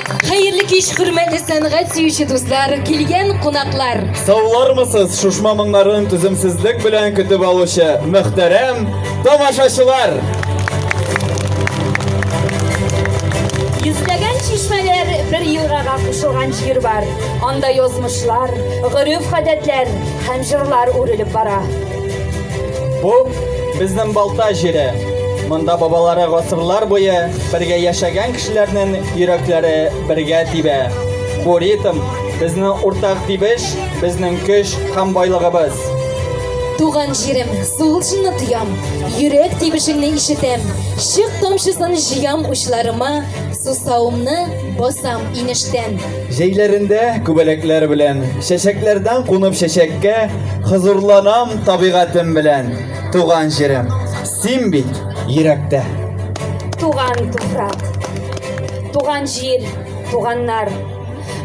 Хәерле кич, хөрмәтле сәнгать сөюче дуслар, килгән кунаклар. Саулармысыз, шушма моңнарын түземсезлек белән көтеп алучы мөхтәрәм тамашачылар! Йөзләгән чишмәләр бер елгага кушылган җир бар. Анда язмышлар, гореф-гадәтләр һәм җырлар үрелеп бара. Бу безнең Балта җире. Монда бабалары гасырлар буе бергә яшәгән кешеләрнең Йөрәкләре бергә тибә. Бу ритм, безнең уртак дибеш, безнең көч һәм байлыгыбыз. Туган җирем, сулышыңны тоям, Йөрәк тибешеңне ишетәм, Чык тамчысын җыям учларыма, Сусавымны басам инештән. Җәйләрендә күбәләкләр белән, Чәчәкләрдән кунып чәчәккә, Хозурланам табигатем белән, Туган җирем. Син бит йөрәктә. Туган туфрак, туган җир, туганнар.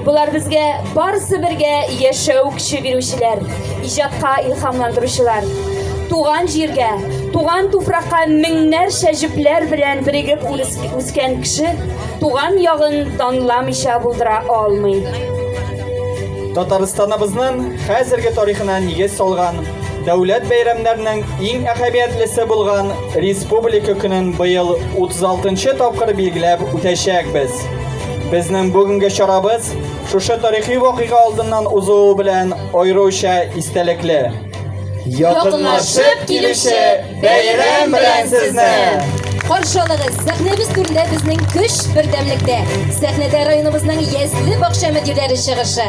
Болар безгә барысы бергә яшәү көче бирүчеләр, иҗатка илһамландыручылар. Туган җиргә, туган туфракка меңнәрчә җепләр белән берегеп үскән кеше туган ягын данламыйча булдыра алмый. Татарстаныбызның хәзерге тарихына нигез салган Дәүләт бәйрәмнәрнең иң әһәмиятлесе булган Республика көнен быел 36 нчы тапкыр билгеләп үтәчәкбез. Безнең бүгенге чарабыз шушы тарихи вакыйга алдыннан узуы белән аеруча истәлекле. Якынлашып килүче бәйрәм белән сезне! Каршы алыгыз! Сәхнәбез түрендә безнең көч бердәмлектә. Сәхнәдә районыбызның ясле бакча мөдирләре чыгышы.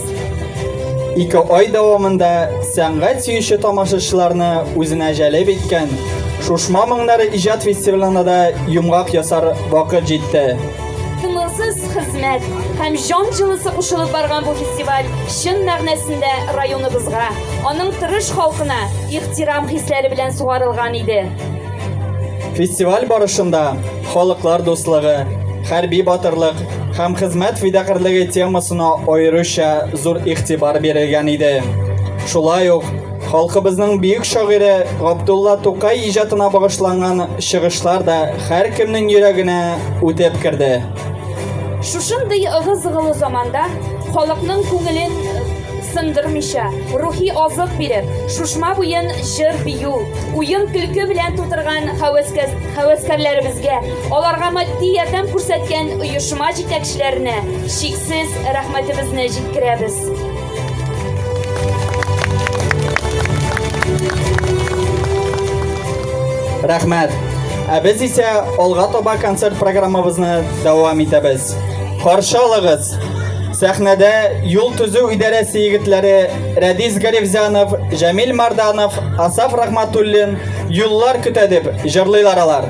Ике ай дәвамында сәнгать сөюче тамашачыларны үзенә җәлеп иткән Шушма моңнары иҗат фестивалена да йомгак ясар вакыт җитте. Тынгысыз хезмәт һәм җан җылысы кушылып барган бу фестиваль чын мәгънәсендә районыбызга, аның тырыш халкына ихтирам хисләре белән сугарылган иде. Фестиваль барышында Халыклар дуслыгы, хәрби батырлык һәм хезмәт фидакарьлеге темасына аеруча зур игътибар бирелгән иде. Шулай ук халкыбызның бөек шагыйре Габдулла Тукай иҗатына багышланган чыгышлар да һәркемнең йөрәгенә үтеп керде. Шушындый ыгы-зыгылы заманда халыкның күңелен сындырмыйча, рухи азык биреп, Шушма буен җыр-бию, уен-көлке белән тутырган һәвәскәрләребезгә, аларга матди ярдәм күрсәткән оешма җитәкчеләренә чиксез рәхмәтебезне җиткерәбез. Рәхмәт! Ә без исә алга таба концерт программабызны дәвам итәбез. Каршы алыгыз! Сәхнәдә юл төзү идарәсе егетләре Рәдис Галевзянов, Җәмил Марданов, Асаф Рахматуллин Юллар көтә дип җырлыйлар алар.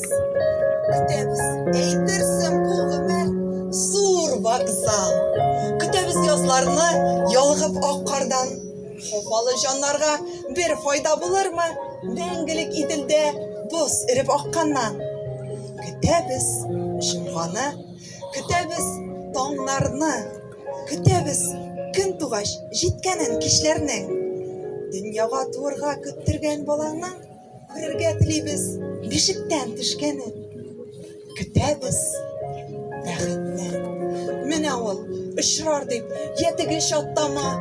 Көтәбез, әйтерсең, бу гомер зур вокзал. Көтәбез язларны ялгып ак кардан. Хафалы җаннарга бер файда булырмы? Мәңгелек Иделдә боз эреп акканнан. Көтәбез җомганы, көтәбез таңнарны, көтәбез көн тугач җиткәнен кичләрнең. Дөньяга туырга көттергән балаңның Күрергә телибез бишектән төшкәнен. Көтәбез бәхетне. Менә ул очрар дип, я теге чаттама,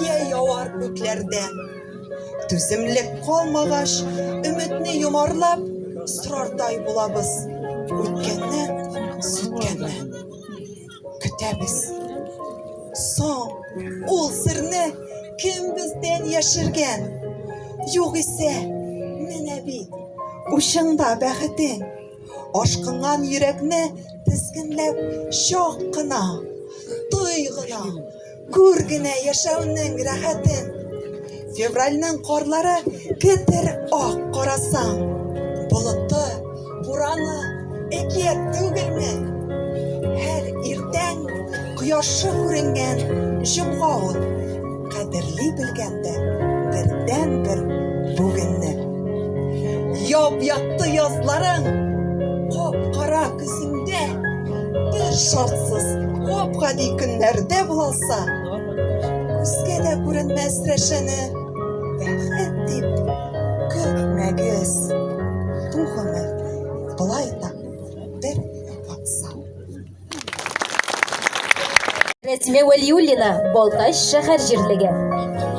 я явар күкләрдә. Түземлек калмагач, өметне йомарлап, сорардай булабыз. Үткәннән, сүткәннән. көтәбез. Соң ул серне кем бездән яшергән? Югыйсә, менә бит, учыңда бәхетең. Ашкынган йөрәкне тезгенләп чак кына, той гына. Күр генә яшәүнең рәхәтен. Февральнең карлары кетер ак карасаң. Болыты, бураны, әкият түгелме? Һәр иртән кояшы күренгән җомга ул. Кадерли белгәндә бердәнбер бүгенне. Яп-якты язларың, кап-кара көзләрең. Синдә бер шартсыз гап-гади көннәрдә булса, күзгә дә күренмәс рәшәне бәхет дип көтмәгез. Бу гомер болай да бер вакса. Рәсимә Вәлиуллина, Балтач шәһәр җирлеге.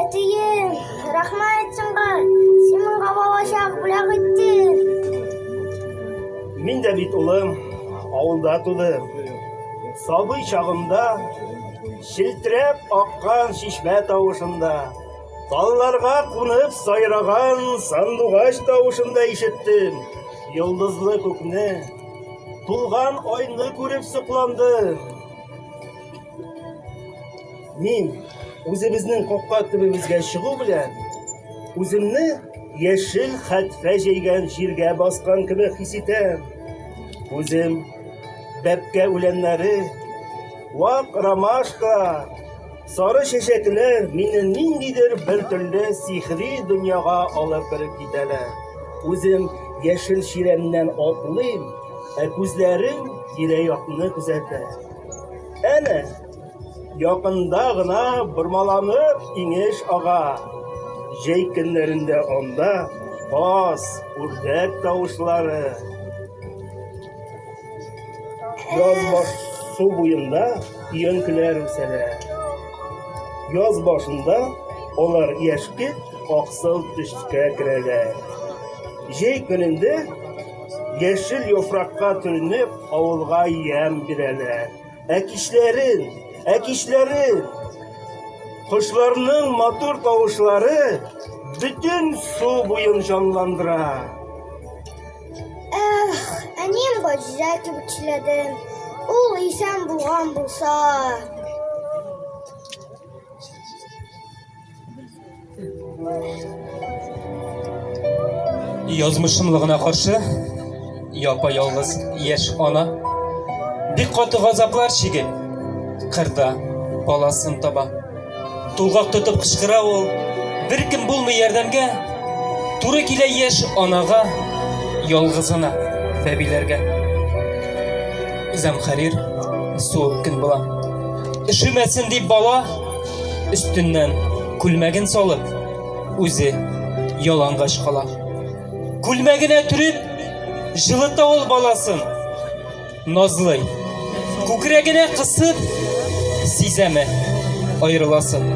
Әтием, рәхмәт сиңа. Син миңа балачак бүләк иттең. Мин дә бит улым, авылда тудым. Сабый чагымда челтерәп аккан чишмә тавышында, талларга кунып сайраган сандугач тавышында ишеттем. Йолдызлы күкне, тулган айны күреп сокландым. Мин үзебезнең капка төбебезгә чыгу белән үземне яшел хәтфә җәйгән җиргә баскан кебек хис итәм. Үзем бәпкә үләннәре, вак ромашка, сары чәчәкләр мине ниндидер бер төрле сихри дөньяга алып кереп китәләр. Үзем яшел чирәмнән атлыйм, ә күзләрем тирә-якны күзәтә. Әнә, якында гына бормаланып инеш ага. Җәй көннәрендә анда каз, үрдәк тавышлары. Яз баш су буенда өянкеләр үсәлә. Яз башында алар яшькелт аксыл төскә керәләр. Җәй көнендә Яшел яфракка төренеп, авылга ямь бирәләр. Ә кичләрен, ә кичләрен кошларның матур тавышлары бөтен су буен җанландыра. Эх, әнием Газизә кебек чиләдем. Ул исән булган булса. Язмышымлыгына каршы, япа ялгыз яшь ана бик каты газаплар чигеп, кырда баласын таба. Тулгак тотып кычкыра ул, беркем булмый ярдәмгә, туры килә яшь анага, ялгызына бәбиләргә. Зәмхәрир суык көн була. Өшемәсен дип бала өстеннән күлмәген салып, үзе ялангач кала. Күлмәгенә төреп, җылыта ул баласын. Назлый. Күкрәгенә кысып, сизәме аерыласын.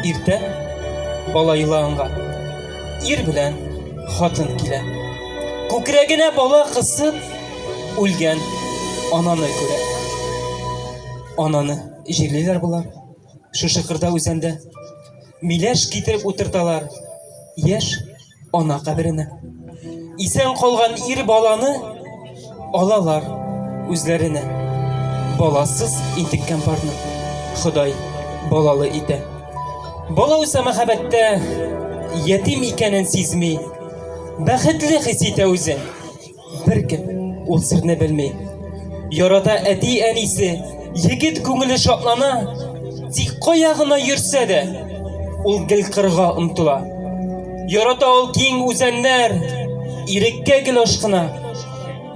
Иртән бала елаганга ир белән хатын килә. Күкрәгенә бала кысып, үлгән ананы күрә. Ананы җирлиләр болар шушы кырда үзәндә миләш китереп утырталар яшь ана каберенә исән калган ир баланы алалар үзләренә баласыз интеккән парны ходай балалы итә бала үсә мәхәббәттә ятим икәнен сизми бәхетле хис итә үзен Беркем ул серне белми. Ярата әти-әнисе, егет күңеле шатлана, тик кая гына йөрсә дә, ул гел кырга омтыла. Ярата ул киң үзәннәр, иреккә гел ашкына.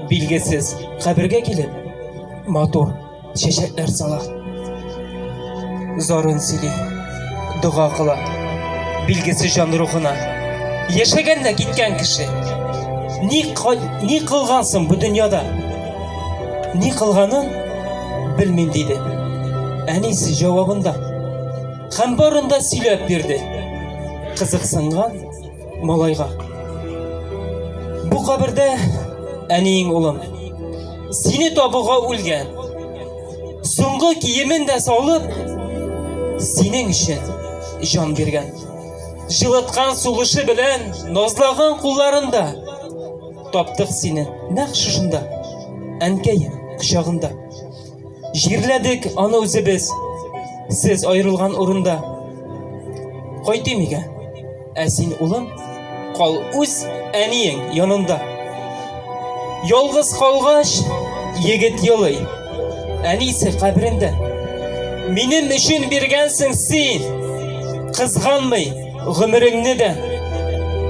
Билгесез кабергә килеп, матур Чәчәкләр сала. Зарын сөйли. Дога кыла. Билгесе җан рухына. Яшәгән дә киткән кеше. Ни, ни кылгансың бу дөньяда? Ни кылганын белмим диде. Әнисе җавабында. Һәм барында сөйләп бирде. Кызыксынган малайга. Бу кабердә әниең улым, сине табуга үлгән. Соңгы киемен дә салып, синең өчен җан биргән. Җылыткан сулышы белән назлаган кулларында таптык сине нәкъ шушында, әнкәем кочагында. Җирләдек аны үзебез, сез аерылган урында. Кайтыйм өйгә. Ә син, улым, кал үз әниең янында. Ялгыз калгач, егет елый. Әнисе каберендә. Минем өчен биргәнсең син, кызганмый. Гомереңне дә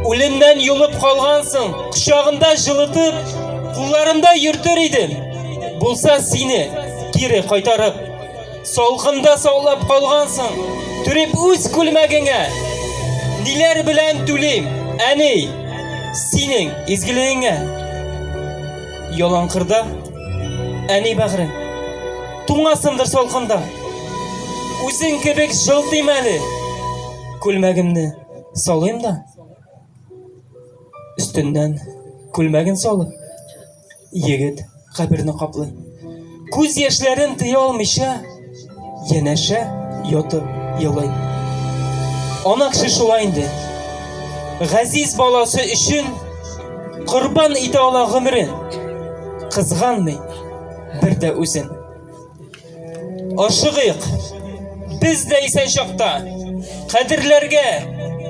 үлемнән йомып калгансың, кочагында җылытып, кулларында йөртер идем. Булса сине кире кайтарып, салкында саулап калгансың, төреп үз күлмәгеңә. Ниләр белән түлим, әни, синең изгелегеңә. Яланкырда Әни бәгъре, туңасымдыр салкында. Үзең кебек җылтыйм әле. Күлмәгемне салыйм да. Өстеннән күлмәген салып, егет каберне каплый. Күз яшьләрен тыя алмыйча, Янәшә ятып елый. Ана кеше шулай инде. Газиз баласы өчен корбан итә ала гомерен. Кызганмый бер дә үзен. Ашыгыйк. Без дә исән чакта кадерләргә,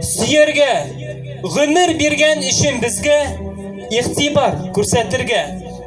сөяргә, гомер биргән өчен безгә игътибар күрсәтергә.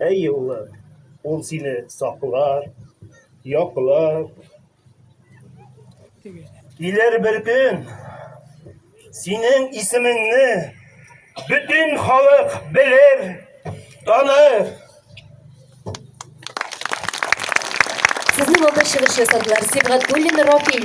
Әйе, улым, ул сине саклар, яклар. Килер бер көн синең исемеңне бөтен халык белер, таныр. Сезнең алда чыгыш ясадылар. Сибгатуллин Рафил.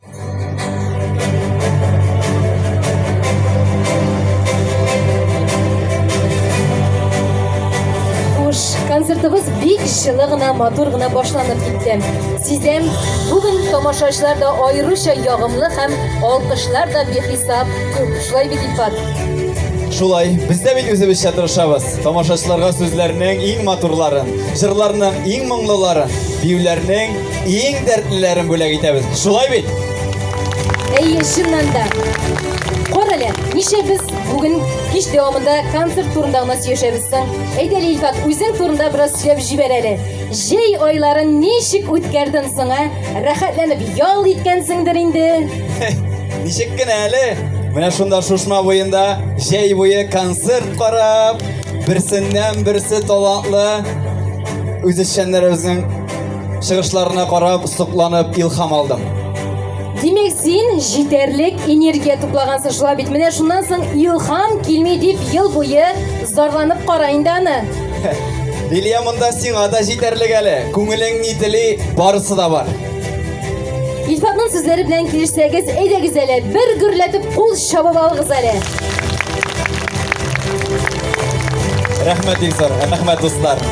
концертыбыз бик жылы гына, матур гына башланып китте. Сездән бүген тамашачылар да аеруча ягымлы һәм алкышлар да бихисап күп. Шулай бит Ифат? Шулай, без дә бит үзебезчә тырышабыз. Тамашачыларга сүзләрнең иң матурларын, җырларның иң моңлыларын, биюләрнең Иң дәртлеләрен бүләк итәбез. Шулай бит? Әйе, чыннан да. Кара әле, ничә без бүген кич дәвамында концерт турында гына сөйләшәбез соң. Әйдә, Илфат, үзең турында бераз сөйләп җибәр әле. Җәй айларын ничек үткәрдең соң, ә? Рәхәтләнеп ял иткәнсеңдер инде. Ничек кенә әле, менә шунда шушма буенда җәй буе концерт карап, берсеннән берсе талантлы үзешчәннәребезнең Чыгышларына карап, сокланып, илхам алдым. Димәк, син җитәрлек энергия туплагансың шулай бит. Менә шуннан соң илхам килми дип ел буе зарланып кара инде аны. Лилия монда сиңа да җитәрлек әле. Күңелең ни тели, барысы да бар. Илфатның сүзләре белән килешсәгез, әйдәгез әле, бер гөрләтеп кул чабып алыгыз әле. Рәхмәт, Илсар, рәхмәт, дуслар.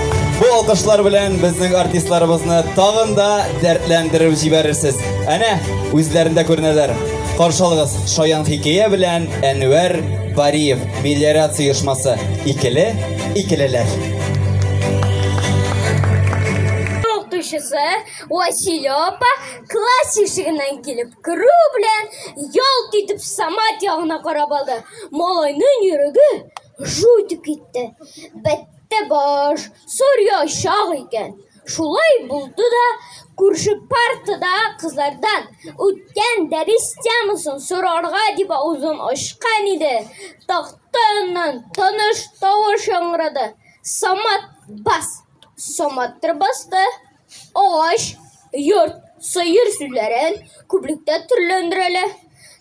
Бу алкышлар белән безнең артистларыбызны тагын да дәртләндереп җибәрерсез. Әнә, үзләрендә күренәләр. Каршы алыгыз, Шаян хикәя белән Әнвәр Бариев, мелиорация оешмасы. Икеле, икелеләр. Укытучысы Василёпа класс ишегеннән килеп керү белән ялт итеп Самат ягына карап алды. Малайның йөрәге жу итеп китте. Бәттә баш, сорья чак икән. Шулай булды да күрше партада кызлардан үткән дәрес темасын сорарга дип авызын ачкан иде. Тахта яннан таныш тавыш яңгырады. Самат бас. Самат басты. Агач, йорт, сыер сүзләрен күплектә төрләндерәләр.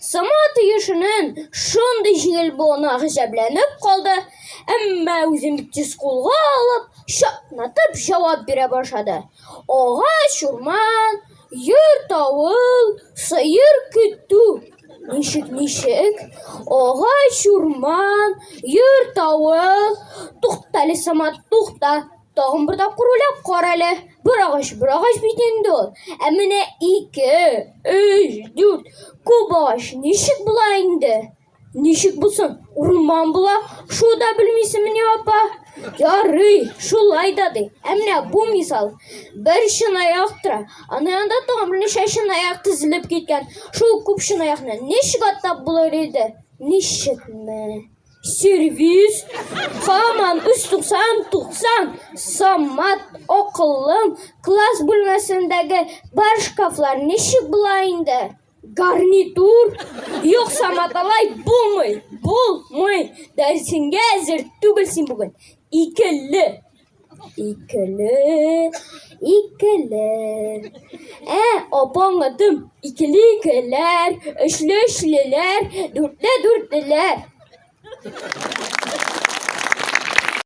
Сама тиешенен шундый җиңел булуына гаҗәпләнеп калды, әмма үзен бик тиз кулга алып, чатнатып җавап бирә башлады. Агач, урман, йорт, авыл, сыер көтү. Ничек, ничек? Агач, урман, йорт, авыл. Туктале, Сама, тукта. Тагын бер тапкыр уйлап кара әле. Бер агач, бер агач бит инде ул. Ә менә ике, өч, дүрт күп агач ничек була инде? Ничек булсын? Урман була. Шул да белмисеңмени, апа? Ярый, шулай да ди. Ә менә бу мисал. Бер чынаяк тора. Аны янда тагын берничә чынаяк тезелеп киткән. Шул күп чынаякны ничек атап булыр иде? Ничекме? сервис, хаман 390-90 самат акыллым, класс бүлмәсендәге бар шкафлар ничек була инде? Гарнитур, юк самат алай булмый, булмый, дәресеңгә әзер түгел син бүген, икеле. Икеле, икеле. Ә апаң атым, икеле икеләр, өчле өчлеләр, дүртле дүртлеләр.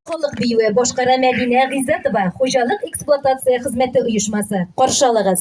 Халык биюе башкара Мәдинә Гыйззәтова, хуҗалык эксплуатация хезмәте оешмасы. Каршалыгыз.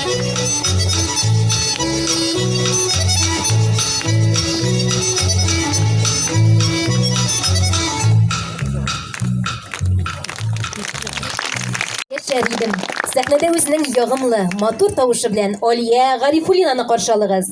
Сәхнәдә үзенең ягымлы, матур тавышы белән Алия Гарифуллинаны каршы алыгыз.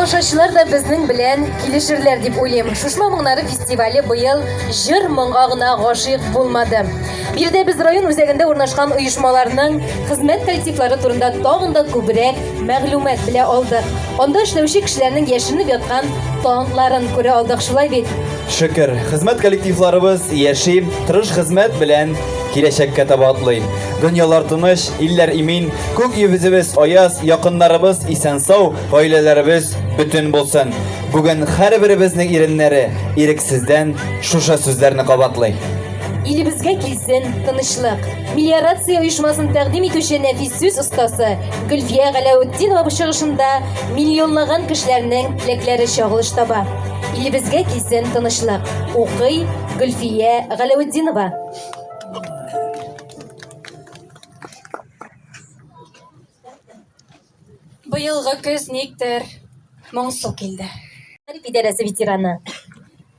тамашачылар да безнең белән килешерләр дип уйлыйм. Шушма моңнары фестивале быел җыр моңга гына гашыйк булмады. Биредә без район үзәгендә урнашкан оешмаларның хезмәт коллективлары турында тагын да күбрәк мәгълүмат белә алдык. Анда эшләүче кешеләрнең яшеренеп яткан талантларын күрә алдык, шулай бит? Шөкер, хезмәт коллективларыбыз яши, тырыш хезмәт белән киләчәккә таба атлый. Дөньялар тыныч, илләр имин, күк йөзебез аяз, якыннарыбыз исән-сау, гаиләләребез бөтен булсын. Бүген һәрберебезнең иреннәре ирексездән шушы сүзләрне кабатлый. Илебезгә килсен тынычлык! Мелиорация оешмасын тәкъдим итүче нәфис сүз остасы, Гөлфия Галәүтдинова бу чыгышында миллионлаган кешеләрнең теләкләре чагылыш таба. Илебезгә килсен тынычлык, укый Гөлфия Галәүтдинова. Быелгы көз никтер моңсу килде. Мәгариф идарәсе ветераны.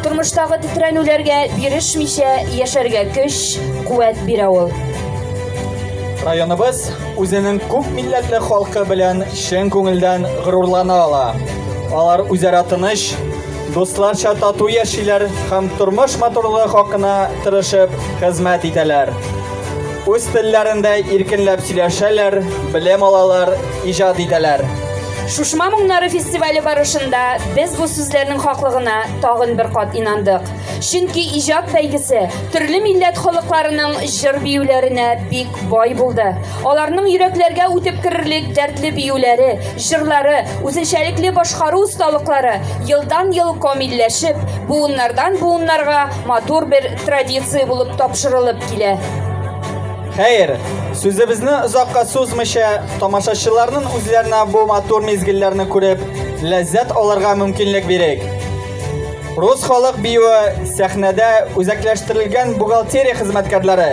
Тормыштагы тетрәнүләргә бирешмичә яшәргә көч, куәт бирә ул. Районыбыз үзенең күп милләтле халкы белән чын күңелдән горурлана ала. Алар үзара тыныч, дусларча тату яшиләр һәм тормыш матурлыгы хакына тырышып хезмәт итәләр. Үз телләрендә иркенләп сөйләшәләр, белем алалар, иҗат итәләр. Шушма моңнары фестивале барышында без бу сүзләрнең хаклыгына тагын бер кат инандык. Чөнки иҗат бәйгесе төрле милләт халыкларының җыр-биюләренә бик бай булды. Аларның йөрәкләргә үтеп керерлек дәртле биюләре, җырлары, үзенчәлекле башкару осталыклары елдан-ел камилләшеп, буыннардан-буыннарга матур бер Традиция булып тапшырылып килә. Хәер, сүзебезне озакка сузмыйча, тамашачыларның үзләренә бу матур мизгелләрне күреп, ләззәт алырга мөмкинлек бирик. Рус халык биюе сәхнәдә үзәкләштерелгән бухгалтерия хезмәткәрләре.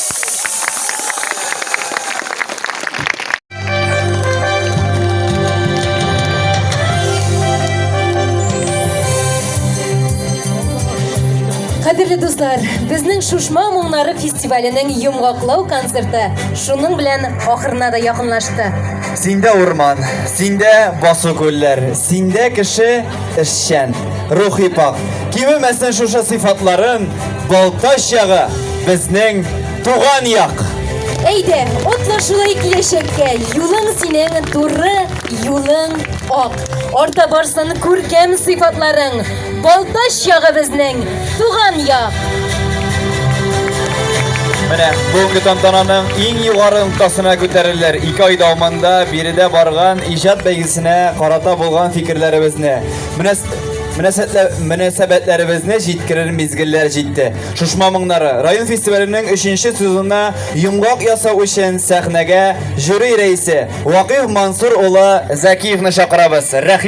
Кадерле дуслар, безнең Шушма моңнары фестиваленең йомгаклау концерты шуның белән ахырына да якынлашты. Синдә урман, синдә басу күлләр, синдә кеше эшчән, рухи пак. Кимемәсен шушы сыйфатларын Балтач ягы, безнең туган як! Әйдә, отла шулай киләчәккә, юлың синең туры, юлың ак. Орта барсын күркәм сыйфатларың, Балтач ягы безнең туган як! Менә бүгенге тантананың иң югары ноктасына күтәрелер. Ике ай дәвамында биредә барган иҗат бәйгесенә карата булган фикерләребезне. Менә Мөнәсәбәтләребезне җиткерер мизгелләр җитте. Шушма моңнары район фестиваленең 3нче сезонына йомгак ясау өчен сәхнәгә жюри рәисе Вакыйф Мансур улы Зәкиевны чакырабыз.